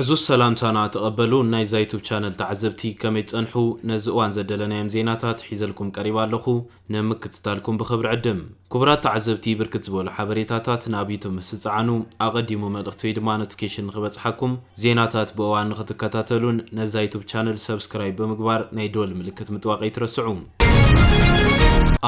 ዕዙዝ ሰላምታና ተቐበሉ ናይ ዛይቱብ ቻነል ተዓዘብቲ ከመይ ትጸንሑ ነዚ እዋን ዘደለናዮም ዜናታት ሒዘልኩም ቀሪባ ኣለኹ ንምክትታልኩም ብኽብሪ ዕድም ክቡራት ተዓዘብቲ ብርክት ዝበሉ ሓበሬታታት ናብ ዩቱብ ምስ ትጽዓኑ ኣቐዲሙ መልእኽቲ ወይ ድማ ኖቲፊኬሽን ንኽበጽሓኩም ዜናታት ብእዋን ንኽትከታተሉን ነዛ ዩቱብ ቻነል ሰብስክራይብ ብምግባር ናይ ደወል ምልክት ምጥዋቕ ኣይትረስዑ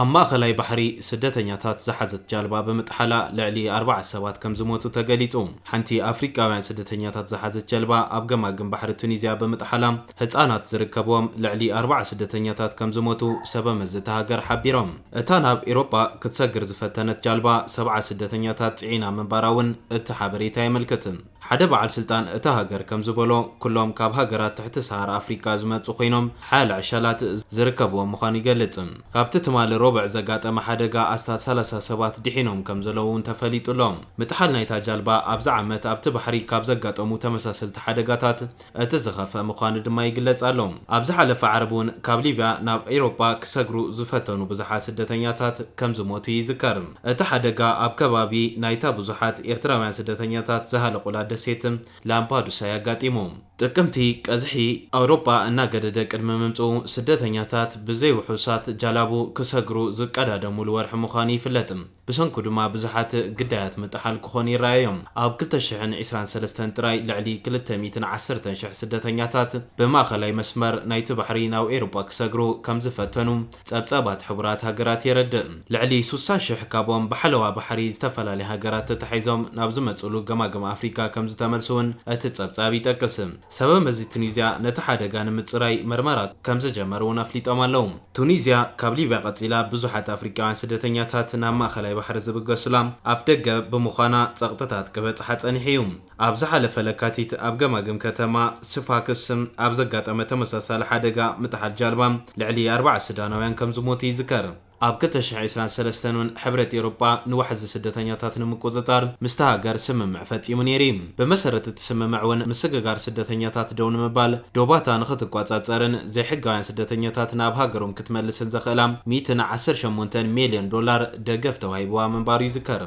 ኣብ ማእኸላይ ባሕሪ ስደተኛታት ዝሓዘት ጃልባ ብምጥሓላ ልዕሊ ኣርባዓ ሰባት ከም ዝሞቱ ተገሊጹ። ሓንቲ ኣፍሪቃውያን ስደተኛታት ዝሓዘት ጀልባ ኣብ ገማግም ባሕሪ ቱኒዝያ ብምጥሓላ ህጻናት ዝርከብዎም ልዕሊ ኣርብዓ ስደተኛታት ከምዝሞቱ ሰበመዚ እታ ሃገር ሓቢሮም። እታ ናብ ኤሮጳ ክትሰግር ዝፈተነት ጃልባ ሰብዓ ስደተኛታት ጽዒና ምንባራ'ውን እቲ ሓበሬታ የመልክት። ሓደ በዓል ስልጣን እታ ሃገር ከምዝበሎ ኩሎም ካብ ሃገራት ትሕቲ ሰሃራ ኣፍሪቃ ዝመጹ ኮይኖም ሓያለ ዕሸላት ዝርከብዎም ምዃኑ ይገልጽ። ካብቲ ትማሊ ሮብዕ ዘጋጠመ ሓደጋ ኣስታት ሰላሳ ሰባት ድሒኖም ከምዘለዉ'ውን ተፈሊጡ'ሎ። ምጥሓል ናይታ ጃልባ ኣብዚ ዓመት ኣብቲ ባሕሪ ካብ ዘጋጠሙ ተመሳሰልቲ ሓደጋታት እቲ ዝኸፍኣ ምዃኑ ድማ ይግለጽ ኣሎ። ኣብ ዝሓለፈ ዓርቢ እውን ካብ ሊብያ ናብ ኤውሮጳ ክሰግሩ ዝፈተኑ ብዙሓት ስደተኛታት ከም ዝሞቱ ይዝከር። እቲ ሓደጋ ኣብ ከባቢ ናይታ ብዙሓት ኤርትራውያን ስደተኛታት ዝሃለቑላ ደሴት ላምፓዱሳ'ዩ ኣጋጢሙ። ጥቅምቲ፣ ቀዝሒ ኣውሮጳ እናገደደ ቅድሚ ምምጽኡ፣ ስደተኛታት ብዘይውሑሳት ጃላቡ ክሰግሩ ዝቀዳደሙሉ ወርሒ ምዃኑ ይፍለጥ። ብሰንኩ ድማ ብዙሓት ግዳያት ምጥሓል ክኾኑ ይረኣዮም። ኣብ ክልተ ሽሕን ዕስራን ሰለስተን ጥራይ ልዕሊ ክልተ ሚእትን ዓሰርተን ሽሕ ስደተኛታት ብማእኸላይ መስመር ናይቲ ባሕሪ ናብ ኤውሮጳ ክሰግሩ ከምዝፈተኑ ጸብጻባት ሕቡራት ሃገራት የረድእ። ልዕሊ ስሳ ሽሕ ካብኦም ብሓለዋ ባሕሪ ዝተፈላለያ ሃገራት ተታሒዞም ናብ ዝመጽእሉ ገማግም ኣፍሪቃ ከምዝተመልሱ'ውን እቲ ጸብጻብ ይጠቅስ። ሰበመዚ ቱኒዝያ ነቲ ሓደጋ ንምጽራይ መርመራ ከምዝጀመሩ'ውን ኣፍሊጦም ኣለው። ቱኒዝያ ካብ ሊብያ ቀጺላ ብዙሓት ኣፍሪቃውያን ስደተኛታት ናብ ማእከላይ ባሕሪ ዝብገሱላ ኣፍደገ ብምዃና ጸቕጥታት ክበጽሓ ጸኒሑ'ዩ። ኣብ ዝሓለፈ ለካቲት ኣብ ገማግም ከተማ ስፋክስ ኣብ ዘጋጠመ ተመሳሳሊ ሓደጋ ምጥሓል ጃልባ ልዕሊ ኣርባዓ ሱዳናውያን ከምዝሞቱ ይዝከር። ኣብ ክልተ ሽሕ ዒስራን ሰለስተን'ውን ሕብረት ኤውሮጳ ንዋሕዚ ስደተኛታት ንምቁጽጻር ምስታ ሃገር ስምምዕ ፈጺሙ ነይሩ'ዩ። ብመሰረት እቲ ስምምዕ'ውን ምስግጋር ስደተኛታት ደው ንምባል፣ ዶባታ ንኽትቆጸጸርን ዘይሕጋውያን ስደተኛታት ናብ ሃገሮም ክትመልስን ዘኽእላ ሚእትን ዓሰርተ ሸሞንተን ሚልዮን ዶላር ደገፍ ተዋሂብዋ ምንባሩ ይዝከር።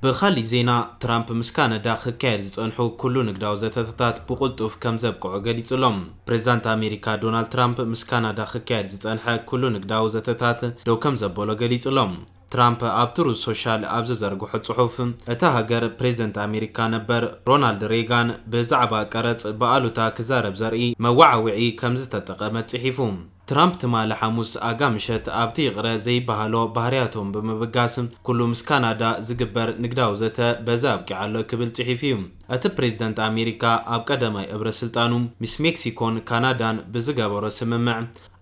ብኻሊእ ዜና፣ ትራምፕ ምስ ካናዳ ክካየድ ዝጸንሑ ኩሉ ንግዳዊ ዘተተታት ብቕልጡፍ ከም ዘብቅዖ ገሊጹ ኣሎ። ፕሬዝዳንት ኣሜሪካ ዶናልድ ትራምፕ ምስ ካናዳ ክካየድ ዝጸንሐ ኩሉ ንግዳዊ ዘተታት ደው ከም ዘበሎ ገሊጹ ኣሎ። ትራምፕ ኣብ ትሩዝ ሶሻል ኣብ ዝዘርግሖ ጽሑፍ፣ እታ ሃገር ፕሬዝደንት ኣሜሪካ ነበር ሮናልድ ሬጋን ብዛዕባ ቀረጽ ብኣሉታ ክዛረብ ዘርኢ መወዓውዒ ከምዝተጠቐመት ጽሒፉ። ትራምፕ ትማሊ ሓሙስ ኣጋ ምሸት ኣብቲ ይቕረ ዘይበሃሎ ባህርያቶም ብምብጋስ፣ ኩሉ ምስ ካናዳ ዝግበር ንግዳዊ ዘተ በዚ ኣብቂዑ ኣሎ ክብል ጽሒፉ'ዩ። እቲ ፕሬዝደንት ኣሜሪካ ኣብ ቀዳማይ እብረ ስልጣኑ ምስ ሜክሲኮን ካናዳን ብዝገበሮ ስምምዕ፣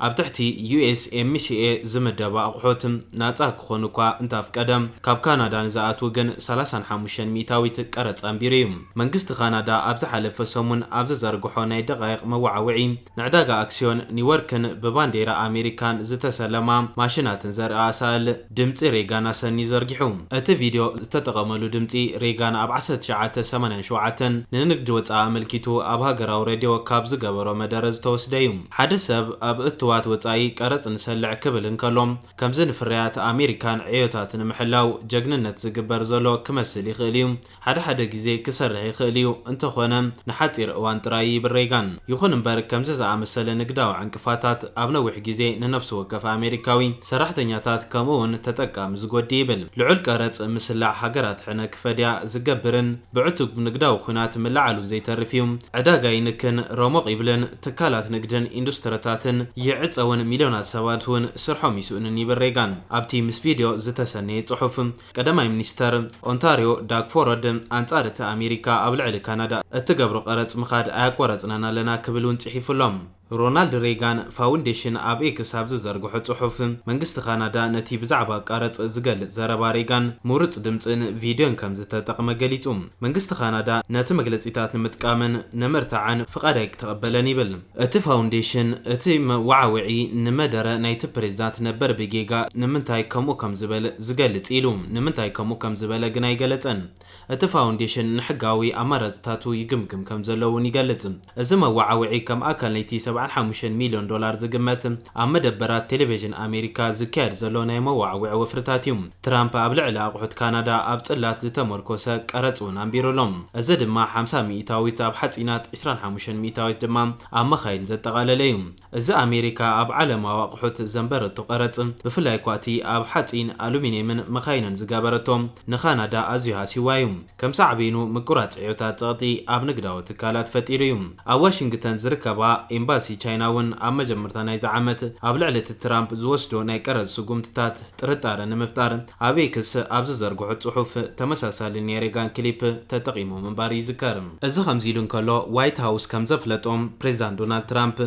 ኣብ ትሕቲ USMCA ዝምደባ ኣቑሑት ናጻ ክኾኑ እኳ እንተኣፍቀደ፣ ካብ ካናዳ ንዝኣትዉ ግን ሰላሳን ሓሙሽተን ሚእታዊት ቀረጽ ኣንቢሩ እዩ። መንግስቲ ካናዳ ኣብ ዝሓለፈ ሰሙን ኣብ ዝዘርግሖ ናይ ደቓይቕ መወዓውዒ፣ ንዕዳጋ ኣክስዮን ኒውዮርክን ብባንዴራ ኣሜሪካን ዝተሰለማ ማሽናትን ዘርኢ ኣሳእል፣ ድምጺ ሬጋን ኣሰንዩ ዘርጊሑ። እቲ ቪድዮ ዝተጠቐመሉ ድምጺ ሬጋን ኣብ ዓሰርተ ትሽዓተ ሰማንያን ሸውዓተን ንንግዲ ወጻኢ ኣመልኪቱ ኣብ ሃገራዊ ሬድዮ ካብ ዝገበሮ መደረ ዝተወስደ እዩ። ሓደ ሰብ ኣብ እትዋት ወጻኢ ቀረጽ ንሰልዕ ክብል እንከሎ፣ ከምዚ ንፍርያት ኣሜሪካን ዕዮታት ንምሕላው ጀግንነት ዝግበር ዘሎ ክመስል ይኽእል እዩ። ሓደ ሓደ ግዜ ክሰርሕ ይኽእል እዩ፣ እንተዀነ ንሓጺር እዋን ጥራይ እዩ ይብል ሬጋን። ይኹን እምበር፣ ከምዚ ዝኣመሰለ ንግዳዊ ዕንቅፋታት ኣብ ነዊሕ ግዜ ንነፍሲ ወከፍ ኣመሪካዊ፣ ሰራሕተኛታት ከምኡ'ውን ተጠቃሚ ዝጐድእ ይብል። ልዑል ቀረጽ ምስላዕ ሃገራት ሕነ ክፈድያ ዝገብርን ብዕቱብ ንግዳዊ ኲናት ምልዓሉን ዘይተርፍ እዩ። ዕዳጋ ይንክን፣ ረሞቕ ይብልን ትካላት ንግድን ኢንዱስትሪታትን ይዕጸውን፣ ሚልዮናት ሰባት'ውን ስርሖም ይስእኑን ይብል ሬጋን ኣብቲ ምስ ቪድዮ ዝተሰነየ ጽሑፍ። ቀዳማይ ሚኒስተር ኦንታርዮ ዳግ ፎረድ፣ ኣንጻር እቲ ኣሜሪካ ኣብ ልዕሊ ካናዳ እትገብሮ ቀረጽ ምኻድ ኣያቋረጽናን ኣለና ክብል እውን ጽሒፉ ኣሎ። ሮናልድ ሬጋን ፋውንዴሽን ኣብ ኤክስ ኣብ ዝዘርግሖ ጽሑፍ፣ መንግስቲ ካናዳ ነቲ ብዛዕባ ቀረጽ ዝገልጽ ዘረባ ሬጋን ምሩጽ ድምጽን ቪድዮን ከም ዝተጠቕመ ገሊጹ። መንግስቲ ካናዳ ነቲ መግለጺታት ንምጥቃምን ንምርታዕን ፍቓድ ኣይክተቐበለን ይብል። እቲ ፋውንዴሽን እቲ መወዓውዒ ንመደረ ናይቲ ፕሬዚዳንት ነበር ብጌጋ ንምንታይ ከምኡ ከምዝበለ ዝገልፅ ኢሉ ንምንታይ ከምኡ ከምዝበለ ግን ኣይገለፀን። እቲ ፋውንዴሽን ንሕጋዊ ኣማራፅታቱ ይግምግም ከምዘሎ እውን ይገልፅ። እዚ መወዓውዒ ከም ኣካል ናይቲ ሰብዓን ሓሙሽተን ሚሊዮን ዶላር ዝግመት ኣብ መደበራት ቴሌቬዥን ኣሜሪካ ዝካየድ ዘሎ ናይ መወዓውዒ ወፍርታት እዩ። ትራምፕ ኣብ ልዕሊ ኣቑሑት ካናዳ ኣብ ጽላት ዝተመርኮሰ ቀረጽ እውን ኣንቢሩ ኣሎ፣ እዚ ድማ ሓምሳ ሚኢታዊት ኣብ ሓጺናት፣ ዕስራን ሓሙሽተን ሚኢታዊት ድማ ኣብ መኻይን ዘጠቓለለ እዩ። እዚ ኣሜሪካ ኣብ ዓለማዊ ኣቑሑት ዘንበረቶ ቀረጽ፣ ብፍላይ እኳ እቲ ኣብ ሓጺን፣ ኣሉሚንየምን መኻይንን ዝገበረቶ፣ ንካናዳ ኣዝዩ ሃሲዋ እዩ። ከም ሳዕቤኑ ምቁራጽ ዕዮታት ጸቕጢ ኣብ ንግዳዊ ትካላት ፈጢሩ እዩ። ኣብ ዋሽንግተን ዝርከባ ኤምባሲ ቻይና'ውን ኣብ መጀመርታ ናይዚ ዓመት ኣብ ልዕሊ እቲ ትራምፕ ዝወስዶ ናይ ቀረጽ ስጉምትታት ጥርጣረ ንምፍጣር ኣብ ኤክስ ኣብ ዝዘርግሖ ጽሑፍ ተመሳሳሊ ናይ ሬጋን ክሊፕ ተጠቒሞም ምንባር ይዝከር። እዚ ከምዚ ኢሉ እንከሎ ዋይት ሃውስ ከም ዘፍለጦ ፕሬዝዳንት ዶናልድ ትራምፕ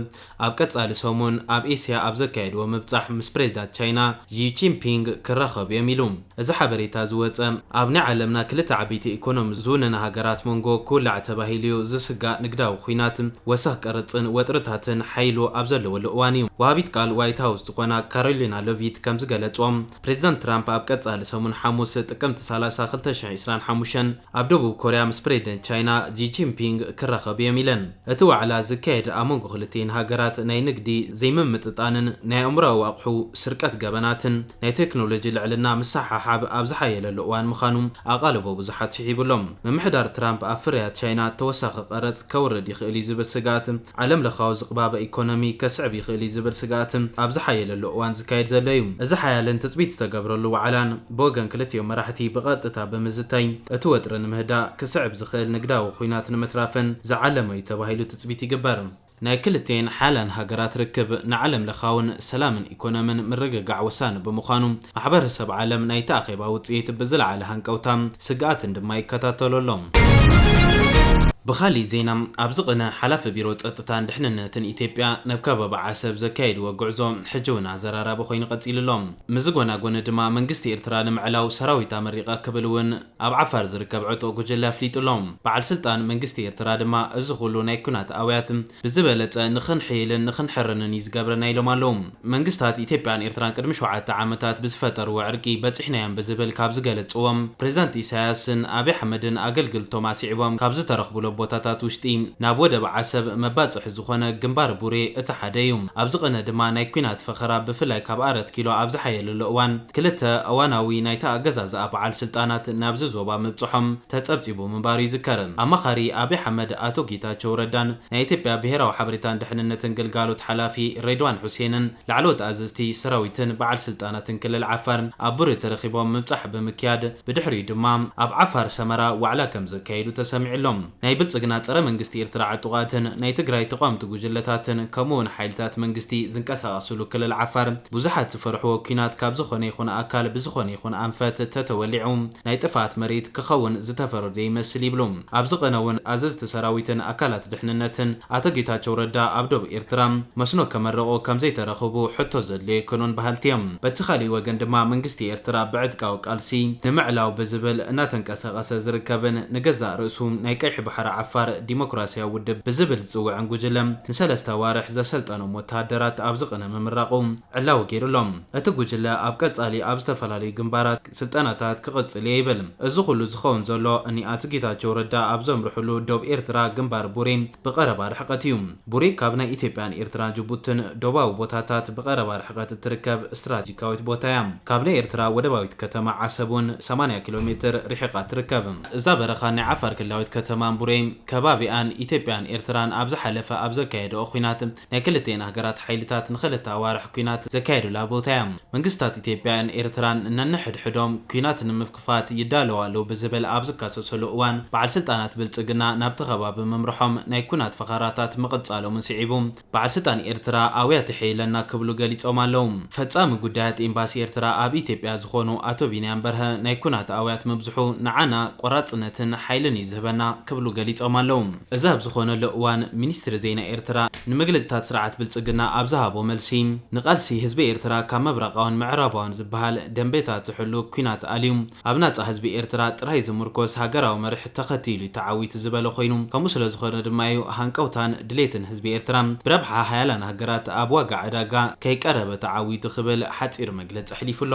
ኣብ ቀፃሊ ሰሙን ኣብ ኤስያ ኣብ ዘካየድዎ ምብፃሕ ምስ ፕሬዚዳት ቻይና ዢ ጂንፒንግ ክራኸቡ እዮም ኢሉ። እዚ ሓበሬታ ዝወፀ ኣብ ናይ ዓለምና ክልተ ዓበይቲ ኢኮኖሚ ዝውነና ሃገራት መንጎ ክውላዕ ተባሂሉ እዩ ዝስጋእ ንግዳዊ ኹናት፣ ወሰኽ ቀረፅን ወጥርታትን ሓይሉ ኣብ ዘለወሉ እዋን እዩ። ወሃቢት ቃል ዋይት ሃውስ ዝኾና ካሮሊና ለቪት ከምዝገለፅኦ ፕሬዚዳንት ትራምፕ ኣብ ቀፃሊ ሰሙን ሓሙስ ጥቅምቲ ሰላሳ ክልተ ሽሕ ዒስራን ሓሙሽተን ኣብ ደቡብ ኮርያ ምስ ፕሬዚደንት ቻይና ዢ ጂንፒንግ ክራኸቡ እዮም ኢለን። እቲ ዋዕላ ዝካየድ ኣብ መንጎ ክልቲኤን ሃገራት ናይ ንግዲ ዘይምምጥጣንን ናይ ኣእምሮኣዊ ኣቕሑ ስርቀት ገበናትን ናይ ቴክኖሎጂ ልዕልና ምስሕሓብ ኣብ ዝሓየለሉ እዋን ምዃኑ ኣቓልቦ ብዙሓት ስሒቡ ኣሎ። ምምሕዳር ትራምፕ ኣብ ፍርያት ቻይና ተወሳኺ ቀረጽ ከውርድ ይኽእል'ዩ ዝብል ስግኣት ዓለምለኻዊ ዝቕባበ ኢኮኖሚ ከስዕብ ይኽእል'ዩ ዝብል ስግኣት ኣብ ዝሓየለሉ እዋን ዝካየድ ዘሎ'ዩ እዚ ሓያልን ትጽቢት ዝተገብረሉ ዋዕላን ብወገን ክልቲኦም መራሕቲ ብቐጥታ ብምዝታይ እቲ ወጥሪ ንምህዳእ ክስዕብ ዝኽእል ንግዳዊ ኹናት ንምትራፍን ዝዓለመ እዩ ተባሂሉ ትፅቢት ይግበር። ናይ ክልቲኤን ሓያላን ሃገራት ርክብ ንዓለም ለኻውን ሰላምን ኢኮኖምን ምርግጋዕ ወሳኒ ብምዃኑ ማሕበረሰብ ዓለም ናይቲ ኣኼባ ውፅኢት ብዝለዓለ ሃንቀውታ ስግኣትን ድማ ይከታተሎ ኣሎ። ብኻሊእ ዜና ኣብዚ ቕነ ሓላፊ ቢሮ ፀጥታን ድሕንነትን ኢትዮጵያ ናብ ከባቢ ዓሰብ ዘካየድዎ ጉዕዞ ሕጂ እውን ኣዘራራቢ ኮይኑ ቐፂሉ ኣሎ። ምስዚ ጎና ጎኒ ድማ መንግስቲ ኤርትራ ንምዕላው ሰራዊት ኣመሪቐ ክብል እውን ኣብ ዓፋር ዝርከብ ዕጡቕ ጉጅለ ኣፍሊጡ ኣሎ። በዓል ስልጣን መንግስቲ ኤርትራ ድማ እዚ ኩሉ ናይ ኩናት ኣውያት ብዝበለጸ ንኽንሕይልን ንኽንሕርንን እዩ ዝገብረና ኢሎም ኣለዉ። መንግስታት ኢትዮጵያን ኤርትራን ቅድሚ ሸውዓተ ዓመታት ብዝፈጠርዎ ዕርቂ በጺሕናዮም ብዝብል ካብ ዝገለጽዎ ፕሬዚዳንት ኢሳያስን ኣቢ ኣሕመድን ኣገልግልቶም ኣስዒቦም ካብ ዝተረኽቡሎም ቦታታት ውሽጢ ናብ ወደብ ዓሰብ መባጽሒ ዝኾነ ግንባር ቡሬ እቲ ሓደ እዩ። ኣብዚ ቕነ ድማ ናይ ኩናት ፈኸራ ብፍላይ ካብ ኣረት ኪሎ ኣብ ዝሓየለሉ እዋን ክልተ እዋናዊ ናይቲ ኣገዛዝኣ በዓል ስልጣናት ናብዚ ዞባ ምብፅሖም ተፀብፂቡ ምንባሩ ይዝከር። ኣማኻሪ ኣብይ ኣሕመድ ኣቶ ጌታቸው ረዳን ናይ ኢትዮጵያ ብሄራዊ ሓበሬታን ድሕንነትን ግልጋሎት ሓላፊ ሬድዋን ሑሴንን ላዕለዎት ኣዘዝቲ ሰራዊትን በዓል ስልጣናትን ክልል ዓፋር ኣብ ቡሬ ተረኺቦም ምብፃሕ ብምክያድ ብድሕሪኡ ድማ ኣብ ዓፋር ሰመራ ዋዕላ ከምዘካየዱ ተሰሚዑ ኣሎ። ናይ ብልጽግና ጸረ መንግስቲ ኤርትራ ዕጡቓትን ናይ ትግራይ ተቋምቲ ጉጅለታትን ከምኡ ውን ሓይልታት መንግስቲ ዝንቀሳቐስሉ ክልል ዓፋር ብዙሓት ዝፈርሕዎ ኩናት ካብ ዝኾነ ይኹን ኣካል ብዝኾነ ይኹን ኣንፈት ተተወሊዑ ናይ ጥፍኣት መሬት ክኸውን ዝተፈረደ ይመስል ይብሉ ኣብ ዝቐነውን ኣዘዝቲ ሰራዊትን ኣካላት ድሕንነትን። ኣቶ ጌታቸው ረዳ ኣብ ዶብ ኤርትራ መስኖ ከመረቑ ከምዘይተረኽቡ ሕቶ ዘድልዮ ኣይኮኑን በሃልቲ እዮም። በቲ ካሊእ ወገን ድማ መንግስቲ ኤርትራ ብዕጥቃዊ ቃልሲ ንምዕላው ብዝብል እናተንቀሳቐሰ ሰቐሰ ዝርከብን ንገዛእ ርእሱ ናይ ቀይሕ ባሕሪ ዓፋር ዲሞክራሲያዊ ውድብ ብዝብል ዝጽውዕን ጉጅለ ንሰለስተ ኣዋርሕ ዘሰልጠኖም ወተሃደራት ኣብዚ ቅነ ምምራቑ ዕላዊ ገይሩ ኣሎ። እቲ ጉጅለ ኣብ ቀጻሊ ኣብ ዝተፈላለዩ ግንባራት ስልጠናታት ክቕጽል እየ ይብል። እዚ ኩሉ ዝኸውን ዘሎ እኒ ኣቶ ጌታቸው ረዳ ኣብ ዘምርሑሉ ዶብ ኤርትራ ግንባር ቡሬ ብቐረባ ርሕቀት እዩ። ቡሬ ካብ ናይ ኢትዮጵያ ን ኤርትራ ጅቡትን ዶባዊ ቦታታት ብቐረባ ርሕቐት እትርከብ እስትራጂካዊት ቦታ እያ። ካብ ናይ ኤርትራ ወደባዊት ከተማ ዓሰብ ውን ሰማንያ ኪሎ ሜትር ሪሒቓ ትርከብ። እዛ በረኻን ናይ ዓፋር ክልላዊት ከተማን ቡሬ ከባቢኣን ኢትዮጵያን ኤርትራን ኣብ ዝሓለፈ ኣብ ዘካየደኦ ኲናት ናይ ክልቲኤን ሃገራት ሓይልታት ንኸልተ ኣዋርሕ ኲናት ዘካየዱላ ቦታ እያ። መንግስታት ኢትዮጵያ ን ኤርትራን ነንሕድሕዶም ኲናት ንምፍ ንምጥፋት ይዳለው ኣለው ብዝብል ኣብ ዝካሰሰሉ እዋን በዓል ስልጣናት ብልፅግና ናብቲ ከባቢ ምምርሖም ናይ ኩናት ፈኸራታት ምቕፃሎምን ስዒቡ በዓል ስልጣን ኤርትራ ኣውያት የሐይለና ክብሉ ገሊፆም ኣለው። ፈፃሚ ጉዳያት ኤምባሲ ኤርትራ ኣብ ኢትዮጵያ ዝኾኑ ኣቶ ቢንያም በርሀ ናይ ኩናት ኣውያት ምብዝሑ ንዓና ቆራፅነትን ሓይልን እዩ ዝህበና ክብሉ ገሊፆም ኣለው። እዚ ኣብ ዝኾነሉ እዋን ሚኒስትሪ ዜና ኤርትራ ንመግለጺታት ስርዓት ብልጽግና ኣብ ዝሃቦ መልሲ፣ ንቓልሲ ህዝቢ ኤርትራ ካብ ምብራቓውን ምዕራባውን ዝበሃል ደምበታት ዝሕሉ ኲናት ኣልዩ ኣብ ናጻ ህዝቢ ኤርትራ ጥራይ ዝምርኮስ ሃገራዊ መርሕ ተኸቲሉ'ዩ ተዓዊቱ ዝበለ ኮይኑ ከምኡ ስለዝኾነ ድማ'ዩ ሃንቀውታን ድሌትን ህዝቢ ኤርትራ ብረብሓ ሃያላን ሃገራት ኣብ ዋጋ ዕዳጋ ከይቀረበ ተዓዊቱ ክብል ሓጺር መግለጺ ኣሕሊፉ'ሎ።